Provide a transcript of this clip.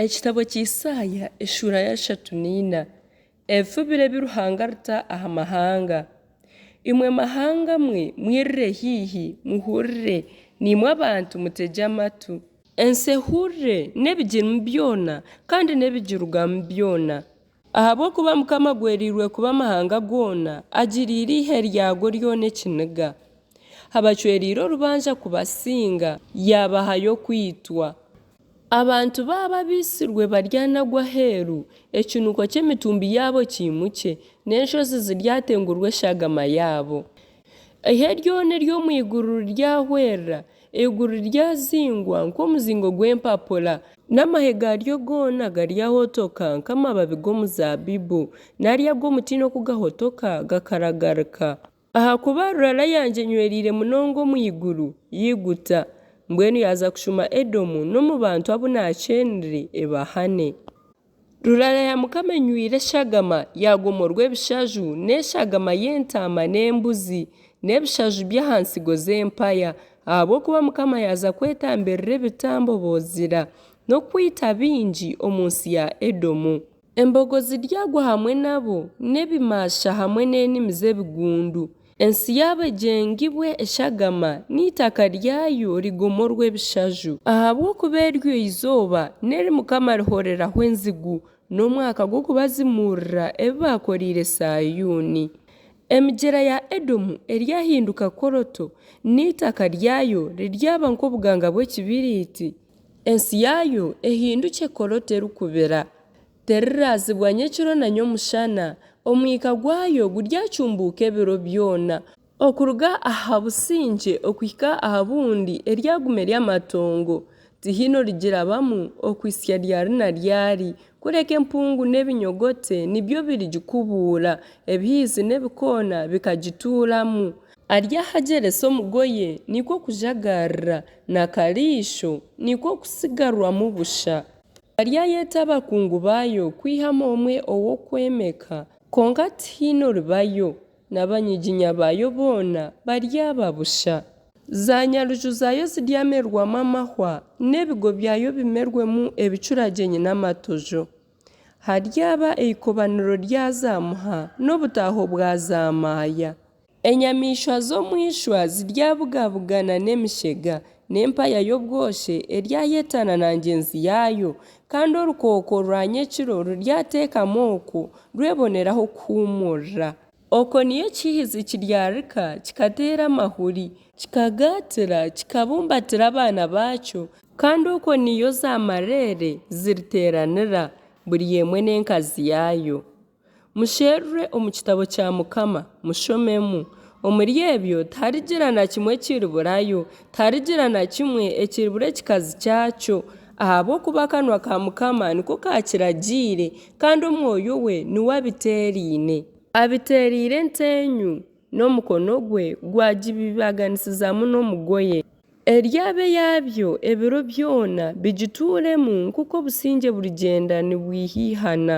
Ekitabo kya Isaaya eshuura ya shatu neina, Ebifubiro ebi Ruhanga arita aha mahanga. Imwe mahanga mwe, mwirire haihi, muhurire, naimwe abantu mutegye amatu. Ensi ehurire n'ebigirimu byona kandi n'ebigirugamu byona. Ahabw'okuba Mukama agwereirwe kuba amahanga goona, agiriire eihe ryago ryona ekiniga. Abacwereire orubanja kubasinga, yaabahayo okwitwa. Abantu baabo abaitsirwe baryanagwa aheeru, ekinuko ky'emitumbi yaabo kiimukye, n'enshozi ziryatengurwa eshagama yaabo. Eihe ryona ery'omu iguru riryahwerera, Eiguru ryazingwa nk'omuzingo gw'empapura. N'amahe gaaryo goona garyahotoka nk'amababi g'omuzaabibu, nari ag'omutiini oku gahotoka gakaragarika. Ahakuba rurara yangye enywereire munonga omu iguru, yaiguta. Mbwenu yaaza kushuma Edomu n'omu bantu abu naakyeenire ebahane. Rurara ya Mukama enywire eshagama, yaagomorwa ebishaju, n'eshagama y'entaama n'embuzi, n'ebishaju by'aha ntsigo z'empaya. Ahabw'okuba Mukama yaaza kwetambirira ebitambo Bozira, n'okwita baingi omu nsi ya Edomu. Embogo ziryagwa hamwe nabo, n'ebimaasha hamwe n'enimi z'ebigundu. Ensi yaabo egyengibwe eshagama, n'eitaka ryayo rigomorwe ebishaju. Ahabw'okuba eryo eizooba n'eri Mukama arihoreraho enzigu, n'omwaka gw'okubazimuurira ebi baakoreire Sayuuni. Emigyera ya Edomu eryahinduka koroto, n'eitaka ryayo riryaba nk'obuganga bw'ekibiriiti. Ensi yaayo ehindukye koroto erikubira, Teriraazibwa nyekiro na nyomushana, omwika gwayo guryacumbuuka ebiro byona. Okuruga aha busingye okuhika aha bundi eryaguma eri amatongo, tihaine origirabamu okuhitsya ryari na ryari, kureka empungu n'ebinyogote nibyo birigikubuura, ebihiizi n'ebikoona bikagituuramu. Ari ahagyeresa omugoye nikwo kujagaarira, n'akariisho nikwo kutsigarwamu busha. Mariya yeeta abakungu baayo kwihamu omwe ow'okwemeka, kwonka tihaine oribayo, n'abanyiginya baayo boona baryaba busha. Zaanyaruju zaayo ziryamerwamu amahwa, n'ebigo byayo bimerwemu ebicuragyenyi n'amatojo. Haryaba eikobaniro rya zaamuha, n'obutaaho bwa zaamaaya, Enyamaishwa z'omu ishwa ziryabugabugana n'emishega, n'empaya y'obwoki eryayeetana na ngyenzi yaayo, kandi orukooko rwa nyekiro ruryateekama okwo rwebonere aho kuhuumurira. Okwo niyo ekihizi kiryarika kikateera amahuri. Kikagaatira, kikabumbatira abaana baakyo. Kandi okwo niyo zaamareere ziriteeranira, buri emwe n'enkazi yaayo. Musherure omu kitabo kya Mukama, mushomemu. Omuri ebyo tiharigira na kimwe ekiriburayo, tiharigira na kimwe ekiribura ekikazi kyakyo, ahabw'okuba akanwa ka Mukama niko kaakiragiire, kandi omwoyo we niwe abiteeraine. Abiteereire enteenyu, n'omukono gwe gwagibibaganisizamu n'omugoye. Eryo abe yaabyo ebiro byona, bigituuremu nk'oku obusingye burigyenda nibwihaihana.